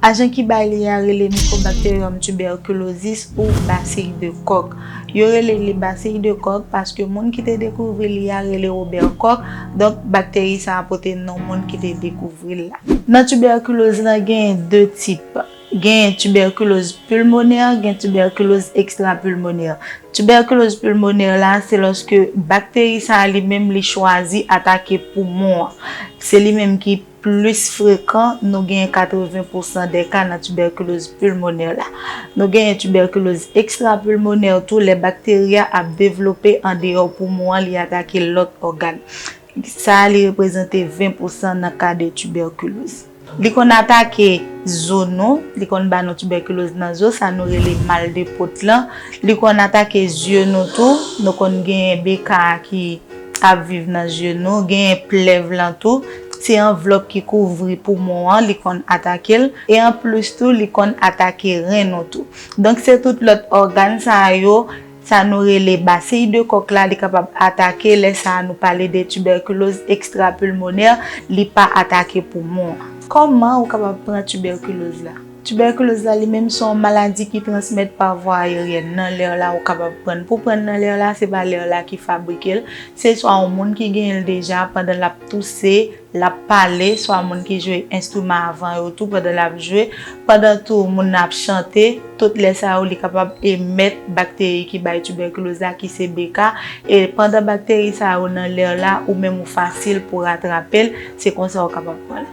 Ajan ki bay li a rele Mycobacterium tuberculosis ou basil de kòk. Yo rele li basil de kòk paske moun ki te dekouvri li a rele Robert Koch, donk bakteri sa a pote non moun ki te dekouvri l la. Nan tibèkiloz lan genyen 2 tip. Genyen tibèkiloz pulmonè, gen tibèkiloz extrapulmonè. Tibèkiloz pulmonè la se lòske bakteri sa a li menm li chwazi atake poumon an. Se li menm ki. plis frekan, nou genyen 80 pousan de ka nan tibèkiloz pulmonè la. Nou genyen tibèkiloz ekstrapulmonè tou lè bakteri a ap devlope andeyò poumon an li atake lòt ògàn. Sa a li reprezante 20 pousan nan ka de tibèkiloz. Li konn atake zo nou, li konn ba nou tibèkiloz nan zo, sa nou rele mal de pot lan. Li konn atake zye nou tou, nou konn genyen BK a ki. Ap viv nan zye nou, genyen plèv lan tou, se anvlòp ki kouvri poumon an li konn atake l, e an plis tou li konn atake ren nou tou. Donk se tout lòt ògàn sa yo, sa nou rele basiy de kòk la li kapab atake lè sa nou pale de tibèkiloz ekstrapilmonè li pa atake poumon an. Kòman ou kapab pran tibèkiloz la? Tibèkiloz la li menm son maladi ki transmèt pa vwa ayeryèn, nan lèr la ou kapab prann. Pou prann nan lèr la se pa lèr la ki fabrike l, se swa yon moun ki genyen l deja pandan l ap touse, l ap pale, swa moun ki jwe enstriman a van yo tou pandan l ap jwe, pandan tou moun nan ap chante, tout lè sa yo li kapab emèt bakteri ki bay tibèkiloz la ki se BK, e pandan bakteri sa yo nan lèr la ou menm ou fasil pou ratrape l, se konsa ou kapab prann.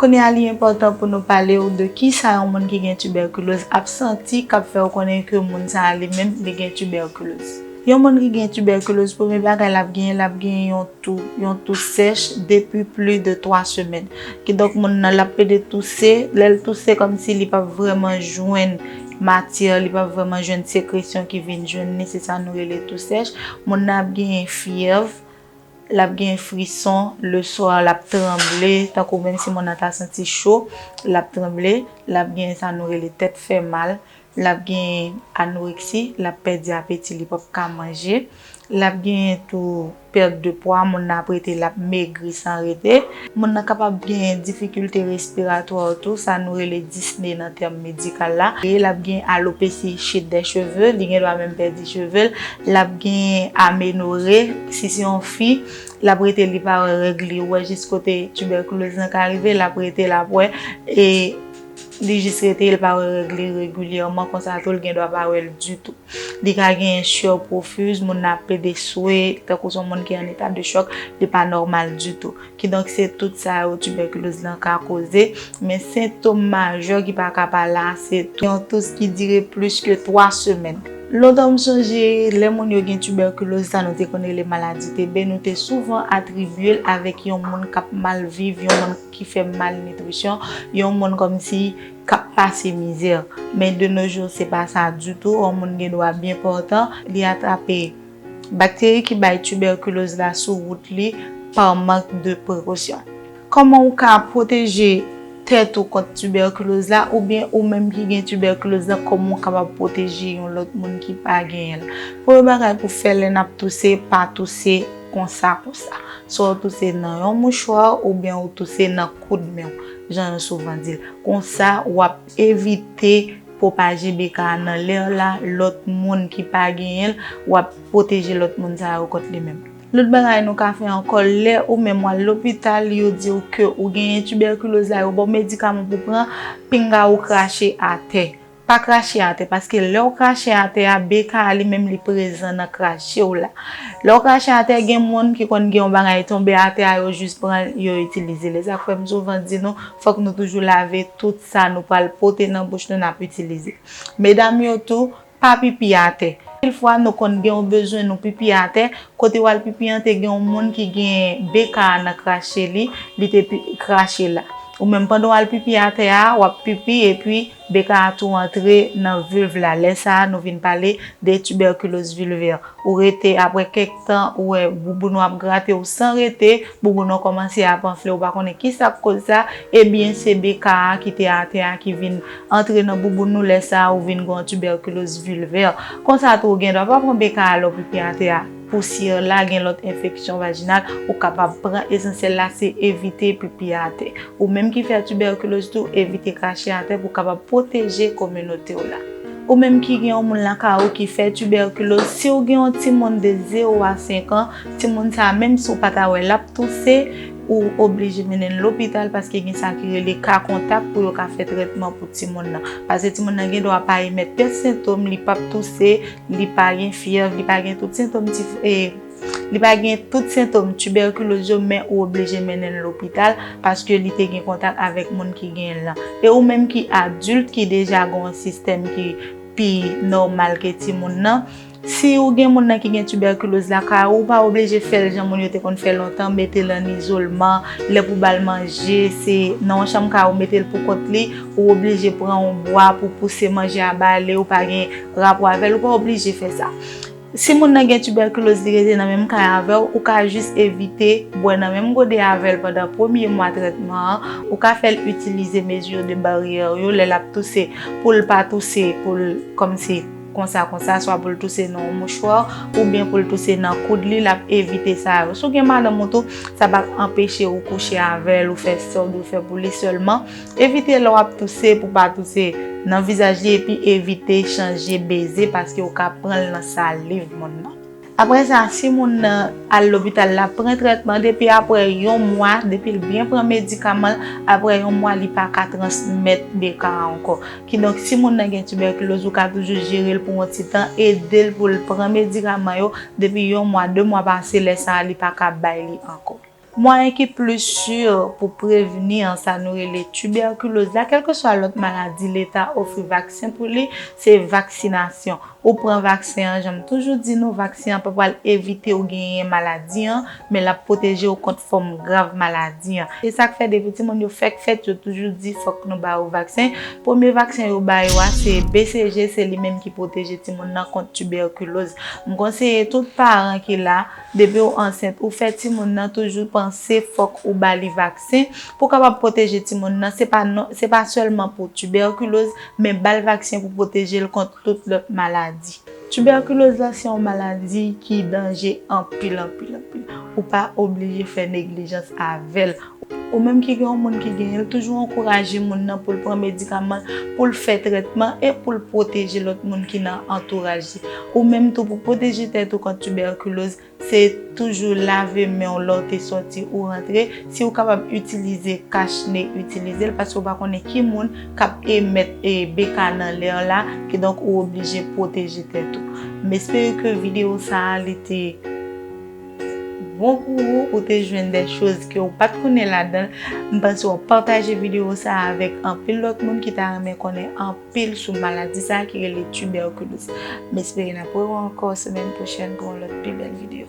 Kounye a li enpòtan pou nou pale ou de kisa yon moun ki gen tibèkiloz ap santi k ap fè ou konnen ke moun sa a li menm li gen tibèkiloz. Yon moun ki gen tibèkiloz premye bagay l ap genyen l ap genyen yon tou, yon tou sèch depi pli de 3 semèn. Kidonk moun nan l ap plede touse, lè l touse kòm si li p ap vrèman jwenn matyè, li p ap vrèman jwenn sekresyon ki vin jwenn li, se sa nou rele tou sèch. Moun nan ap genyen fyèv. Lap gen frison le swa lap tranble tankou menm si moun nan ta santi cho lap tranble lap gen sa nou rele tèt fè mal lap gen anoreksi lap pèdi apeti li pap ka manje lap gen tou perte de pwa moun nan ap rete lap megri san rete. Moun nan kapab genyen difikilte respiratwa tou, sa nou rele disne nan tèm medikal la. L ap gen alopesi, chit dè cheve, li gen dwa menm pèdi cheve l. L ap gen amenore, si se yon fi, l ap rete li pa wè règ li, ou wè jis kote tibèkiloz lan ka rive, l ap rete l ap wè. Li jis rete li pa wè règ li regilyèman konsa tou li gen dwa pa wè l ditou. Li ka genyen sueur profuses, moun nan ap plede swe tankou son moun ki an eta de chòk, li pa nòmal ditou. Kidonk se tout sa yo tibèkiloz lan ka koze, men sentom majè ki pa ka pa la se tou yon tous ki dire plis ke 3 semèn. Lontan m sonje lè moun yo gen tibèkiloz sa nou te konn rele maladi TB nou te souvan atribye l avèk yon moun k ap mal viv yon moun. ki fè malnitrisyon, yon moun kòmsi k ap pase mizè. Men de no jou se pa sa ditou, yon moun gen dwa byen pòtan li atrape bakteri ki bay tibèkiloz la sou wout li pa mank de prekosyon. Kòman ou ka pwoteje tèt ou kont tibèkiloz la oubyen ou menm ki gen tibèkiloz la kòman ou kapab pwoteje yon lòt moun ki pa genyen l. Premye bagay pou fè lè n ap touse, pa touse. Konsa konsa. Swa w touse nan yon mouchwa oubyen ou touse nan koud men w, jan yo souvan di l. Konsa, w ap evite pwopaje BK a nan lè w la, lòt moun ki pa genyen l, w ap pwoteje lòt moun sa yo kont li menm. Lòt bagay nou ka fè ankò, lè ou menm w al lopital, yo di w ke ou genyen tibèkiloz la, yo ba w medikaman pou w pran, pinga ou krache atè. Pa krache atè paske lèw krache atè a BK a li menm li prezan nan krachew la lèw krache atè gen moun ki konn gen yon bagay tonbe atè a yo jis pran yo itilize l esak fèm souvan di nou fòk nou toujou lave tout sa nou pral pote nan bouch nou nap itilize medam yo tou pa pipi atè anpil fwa nou konn gen yon bezwen nou pipi atè kote wal pipi an te gen yon moun ki gen BK a nan krache li li te krache la ou menm pandan wal pipi atè a wap pipi epi BK a tou antre nan vulve la lè sa a nou vin pale de tuberculose vulvaire ou rete aprè kèk tan ou wè bouboun ou ap grate ou san rete bouboun ou kòmanse ap anfle ou pa konnen kisa k koz sa ebyen se BK a ki te atè a ki vin antre nan bouboun ou lè sa a ou vin gon tuberculose vulvaire konsa tou ou gen dwa pa pran BK a lè ou pipi atè a. Pousyè la gen lòt enfeksyon vajinal ou kapab pran esansyèl la se evite pipi atè. Ou menm ki fè tibèkiloz tou evite krache atè pou kapab pwoteje kominote w la. Ou menm ki gen yon moun lakay ou ki fè tibèkiloz, si w gen yon timoun de 0 a 5 an, timoun sa menm si w pa ta wè l ap touse, ou oblije mennen l lopital paske gen sa ki rele ka kontak pou yo ka fè trètman pou timoun nan. Pase timoun nan gen dwa pa emèt kèk sentom, li p ap touse, Li pa gen fyèv, li pa gen tout sentom tif, e li pa gen tout sentom tibèkiloz yo men ou oblije mennen l lopital paske li te gen kontak avèk moun ki gen l lan. E ou menm ki adilt ki deja gen yon sistèm ki pi nòmal ke timoun nan, si ou gen moun nan ki gen tibèkiloz lakay ou, ou pa oblije fè l jan moun yo te konn fè lontan, mete l an izolman, lè pou w ba l manje se nan yon chanm kay ou mete l pou kont li, ou oblije pran yon bwa pou pouse manje a ba li, ou pa gen Rapò avèl ou pa oblije fè sa. Si moun nan gen tibèkiloz li rete nan menm kay avèw ou ka jis evite bwè nan menm gode avèl pandan premye mwa trètman an, ou ka fèl itilize mesure de barrière yo lè lap touse poul pa touse poul kòmsi konsa konsa swa poul touse nan yon mouchwa oubyen poul touse nan koud li lap evite sa yo. Si w gen madanm ou tou sa pap anpeche ou kouche avèl ou fè sa w dwe fè pou li sèlman. Evite lè w ap touse pou pa touse nan vizaj li epi evite chanje beze paske ou ka pran l nan saliv moun nan. Aprè sa, si moun nan al lopital l ap pran trètman depi aprè yon mwa depi l byen pran medikaman l aprè yon mwa li pa ka transmèt BK a ankò. Kidonk si moun nan gen tibèkiloz ou ka toujou jere l pou yon ti tan ede l pou l pran medikaman yo depi yon mwa de mwa pase lè sa a li pa ka bay li ankò. Mwayen ki plis sur pou prevni an sa nou rele tubèkiloz la kèlkeswa lòt maladi leta ofri vaksen pou li se vaksinasyon. Ou pran vaksen an jan m toujou di nou vaksen an pa pral evite w genyen maladi an men l ap pwoteje w kont fòm grav maladi an. Se sa k fè depi timoun yo fèk fèt yo toujou di fòk nou ba yo vaksen. Premye vaksen yo ba yo a se BCG se li menm ki pwoteje timoun nan kont tibèkiloz. M konseye tout paran ki la. Depiw ansent ou fè timoun nan toujou panse fòk ou bali vaksen pou kapab pwoteje timoun nan se pa non se pa sèlman pou tibèkiloz men bal vaksen pou pwotejel kont tout lòt maladi. Tibèkiloz la se yon maladi ki danje anpil anpil anpil ou pa oblije fè neglijans avèl Ou menm ki gen yon moun ki genyen l, toujou ankouraje moun nan pou l pran medikaman l, pou l fè trètman e pou l pwoteje lòt moun ki nan antouraj li. Ou menm tou pou pwoteje tèt ou kont tibèkiloz, se toujou lave men w lè w te sòti ou rantre, si ou kapab itilize kach ne itilize l paske ou pa konnen ki moun k ap emèt BK nan lè w la, kidonk ou oblije pwoteje tèt ou. M espere ke videyo sa a li te. Bon pou ou ou te jwenn de choz ke ou pat konnen ladanl, m panse wap pataje video sa avèk anpil lòt moun ki ta renmen konnen anpil sou maladi sa ki rele tuberculose. M espere nap wè ou ankò semèn pwochèn pou yon lòt pi bèl video.